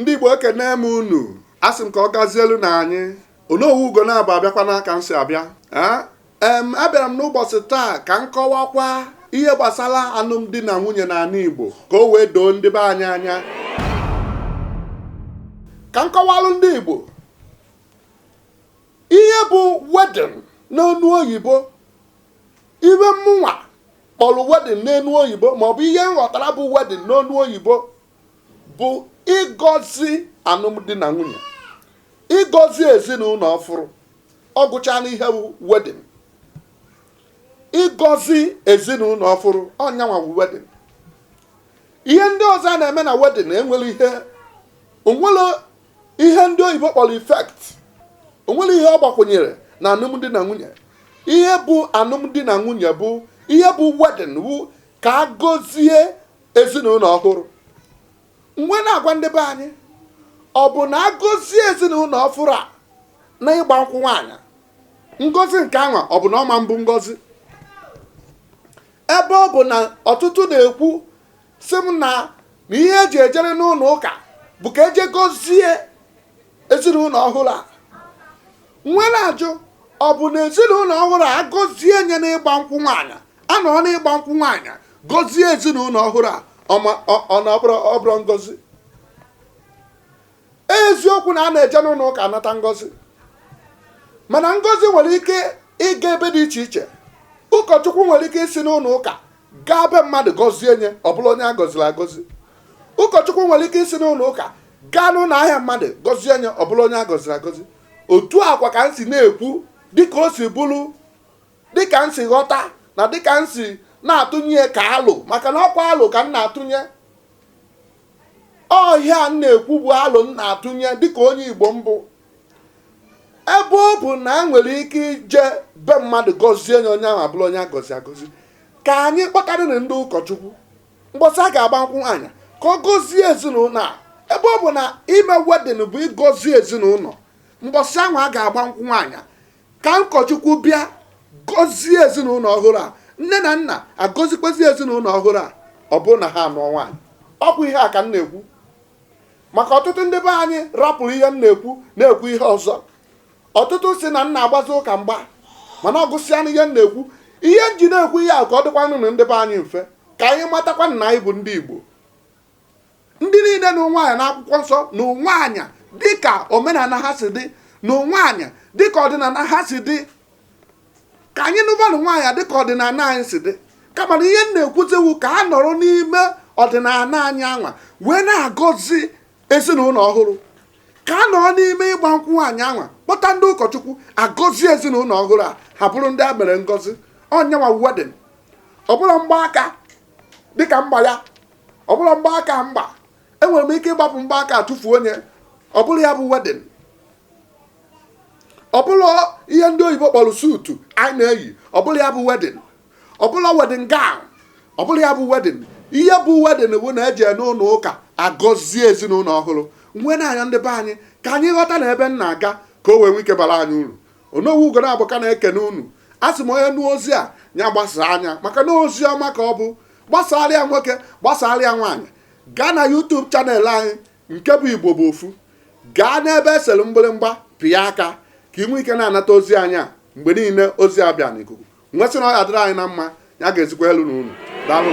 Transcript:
ndị Igbo ekene m unu asị m ka ọ gazielu na anyị Onowu Ugonabo abịakwana ka m si abịa ee m abịara m n'ụbọchị taa ka m kọwakwa ihe gbasara alụmdi na nwunye n'ala Igbo ka o wee doo ndị be anyị anya ka m kọwalụ ndị Igbo ihe bụ wedding n'ọnụ oyibo ihe mụnwa kpọrọ wedding n'ọnụ oyibo maọbụ ihe m ghọtara bụ wedding n'ọnụ oyibo bụ ịgọzi alụmdi na nwunye ịgọzi ezinụlọ ọfụrụ ọ gwụchala ihe wu wedding ịgọzi ezinụlọ ọfụrụ ọ nyanwa wu wedding ihe ndị ọzọ a na-eme na wedding enwero ihe o nwero ihe ndị oyibo kpọrọ effect o nwero ihe ọ gbakwụnyere na alụmdi na nwunye ihe bụ alụmdi na nwunye bụ ihe bụ wedding wu ka a gọzie ezinụlọ ọhụrụ m wee na-agwa ndị be anyị ọ bụ na a gọzie ezinụlọ ọhụrụ a na ịgba nkwụ nwaanyị ngọzi nke anwa ọ bụ na ọ ma bụ ngọzi ebe ọ bụ na ọtụtụ na-ekwu sị m na na ihe e ji ejere n'ụlọ ụka bụ ka e je gọzie ezinụlọ ọhụrụ a m wee na-ajụ ọ bụ na ezinụlọ ọhụrụ a a gọzie nye n'ịgba nkwụ nwaanyị a nọ n'ịgba nkwụ nwaanyị gọzie ezinụlọ ọhụrụ a ọma- ọ- ọ na ọ bụrọ ngọzi eziokwu na a na-eje n'ụlọ ụka anata ngọzi mana ngọzi nwere ike ịga ebe dị iche iche ụkọchukwu nwere ike isi n'ụlọ ụka gaa be mmadụ gọzie nye ọ bụrụ onye a gọziri agọzi ụkọchukwu nwere ike isi n'ụlọ ụka gaa n'ụlọ ahịa mmadụ gọzie nye ọ bụrụ onye a gọziri agọzi otu a kwa ka m si na-ekwu dịka o si bụrụ dịka m si ghọta na dịka m si na-atụnye ka alo maka na ọ kwa alo ka m na-atụnye ọ ihe a m na-ekwu bụ alo m na-atụnye dịka onye Igbo m bụ ebe ọ bụ na e nwere ike ije be mmadụ gọzie onye onye ahụ abụrụ onye a gọziri agọzi ka anyị kpọtarịrị ndị ụkọchukwu mgbọsị a ga-agba nkwụ nwaanyị ka ọ gọzie ezinụlọ a ebe ọ bụ na ime wedding bụ ịgọzi ezinụlọ mgbọsị ahụ a ga-agba nkwụ nwaanyị ka ụkọchukwu bịa gọzie ezinụlọ ọhụrụ a nne na nna agọzikwazi ezinụlọ ọhụrụ a ọ bụrụ na ha anụọ nwaanyị ọ bụ ihe a ka m na-ekwu maka ọtụtụ ndị be anyị rapụrụ ihe m na-ekwu na-ekwu ihe ọzọ ọtụtụ sị na m na-agbazi ụka mgba mana ọ gwụsịana ihe m na-ekwu ihe m ji na-ekwu ihe a ka ọ dịkwanụrụ ndị be anyị mfe ka anyị matakwa na anyị bụ ndị Igbo ndị niile nụ nwaanyị n'akwụkwọ nsọ nụ nwaanyị dịka omenala ha si dị nụ nwaanyị dịka ọdịnala ha si dị ka anyị nụbanụ nwaanyị dịka ọdịnala anyị si dị kama na ihe m na-ekwuzi wụ ka a nọrọ n'ime ọdịnala anyị anwa wee na-agọzi ezinụlọ ọhụrụ ka a nọrọ n'ime ịgba nkwụ nwaanyị anwa kpọta ndị ụkọchukwu agọzie ezinụlọ ọhụrụ a ha bụrụ ndị a mere ngọzi ọ nya nwa wedding ọ bụrọ mgbaaka dịka m gba ya ọ bụrọ mgbaaka m gba enwere m ike ịgbapụ mgbaaka tụfuo onye ọ bụrọ ya bụ wedding ọ bụrọ ihe ndị oyibo kpọrọ suit anyị na-eyi ọ bụrọ ya bụ wedding ọ bụrọ wedding gown ọ bụrọ ya bụ wedding ihe bụ wedding bụ na e je n'ụlọ ụka agọzie ezinụlọ ọhụrụ m wee na-ayọ ndị be anyị ka anyị ghọtanụ ebe m na-aga ka o wee nwee ike bara anyị uru onowu ugonabọ ka na-ekene unu a sị m onye nụ ozi a ya gbasaanụ ya maka na ozi ọma ka ọ bụ gbasaara ya nwoke gbasaara ya nwaanyị gaa na YouTube channel anyị nke bụ Igbo bụ ofu gaa n'ebe e sere mgbịrịmgba pịa aka ka ị nwee ike na-anata ozi anyị a mgbe niile ozi a bịa n'ikuku m wee sị na ọ ya-adịrị anyị na mma ya gazikwaalụ nụ unu daalụ